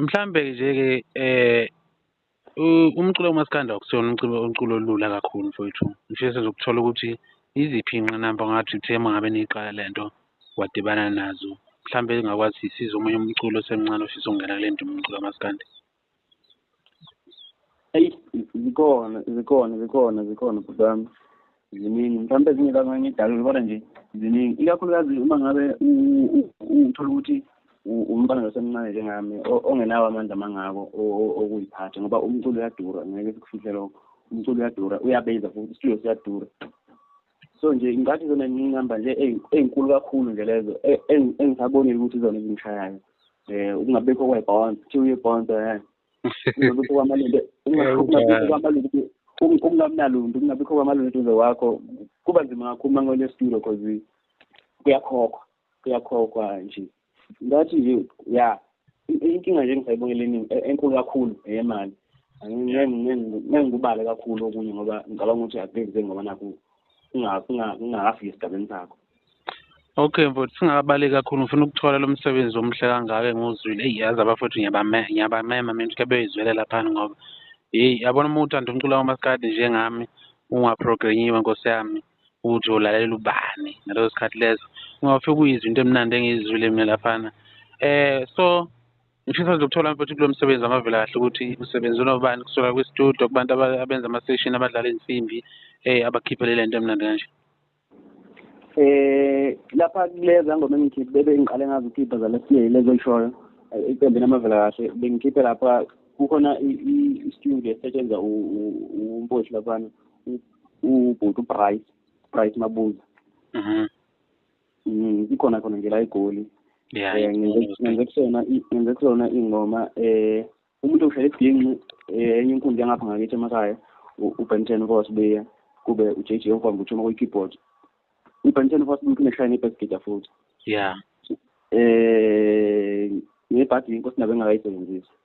Mhlambe nje ke eh umculo umaskanda akusona umculo umculo olula kakhulu mfowethu. Ngifisa sizokuthola ukuthi iziphi inqinamba ngathi uthe mangabe niqala lento wadibana nazo. Mhlambe engakwazi size omunye umculo osemncane ofisa ukungena kule nto umculo kamaskandi. eyi zikhona zikhona zikhona zikhona bhuti wami ziningi mhlawumbe ezinye zamanye idalule kodwa nje ziningi ikakhulukazi uma ngabe uthola ukuthi umntwana losemncane njengami ongenawo amandla amangako okuyiphatha ngoba umculo uyadura ngeke sikufihle lokho umculo uyadura uyabiza futhi isitudio siyadura so nje ngathi zona nginqamba nje ezinkulu kakhulu nje lezo e, engisabonile ukuthi zona ezingishayayo eh ukungabekho kwebond kuthiwa uyebond eh ukungabekho kwamalungu ukungabekho kwamalungu ukungamnaluntu ukungabikho kwamalungu eduze wakho kuba nzima kakhulu uma ngole studio because kuyakhokhwa kuyakhokhwa nje that is it ya inkinga nje engisayibona leningi e-, enkulu kakhulu eyemali ngengikubale kakhulu okunye ngoba ngicabanga ukuthi akubenze ngoba nakho ungakafiki esigabeni sakho okay mfowethu singakabaleki kakhulu ngifuna ukuthola lo msebenzi omuhle kangaka engiwuzwile eyi yazi abafowethu ngiyabamema mina ukuthi kebeyizwele laphana ngoba yeyi yabona uma uthanda umculo wamaskadi njengami ungaprogrenyiwe nkosi yami ukuthi ulalela ubani ngaleso sikhathi leso ngoba fike kuyizwa into emnandi engiyizwile mina laphana eh so ngifisa nje ukuthola mfethu kulo msebenzi wamavela kahle ukuthi usebenza unobani kusuka kwistudio kubantu abenza ama-session abadlala insimbi eh abakhiphele le nto emnandi kanje eh lapha kuleza ngoma engikhiphe bebe ngiqale ngazi ukhipha zalesiye lezo lishoyo iqembu namavela kahle bengikhiphe lapha kukhona i-studio esetshenzwa umposhi laphana ubhuti uprice price mabuza mhm. mm, ikhona khona nje la egoli eh, ngenze kusona ngenze kusona ingoma um umuntu oshele ebhinqi eh, enye inkundla yangapha ngakithi emakhaya ubenten ukosibeya kube uj j okwamba uthuma kwi-keyboard ubenten ukosibeya uneshaye nebasgida futhi ya um ngebhadi inkosi nabe engakayisebenzisi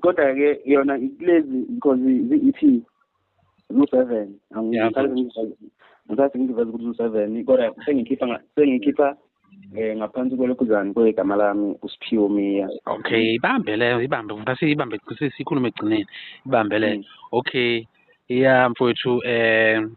kodwa ke yona kulezi because i-EP lu-seven ngisathi ngiveza ukuthi lu-seven kodwa sengikhipha sengikhipha eh ngaphansi kwelokhuzane kwegama lami usiphiwo miya okay ibambe leyo ibambe ngase ibambe sikhulume egcineni ibambe leyo mm. okay ya mfowethu um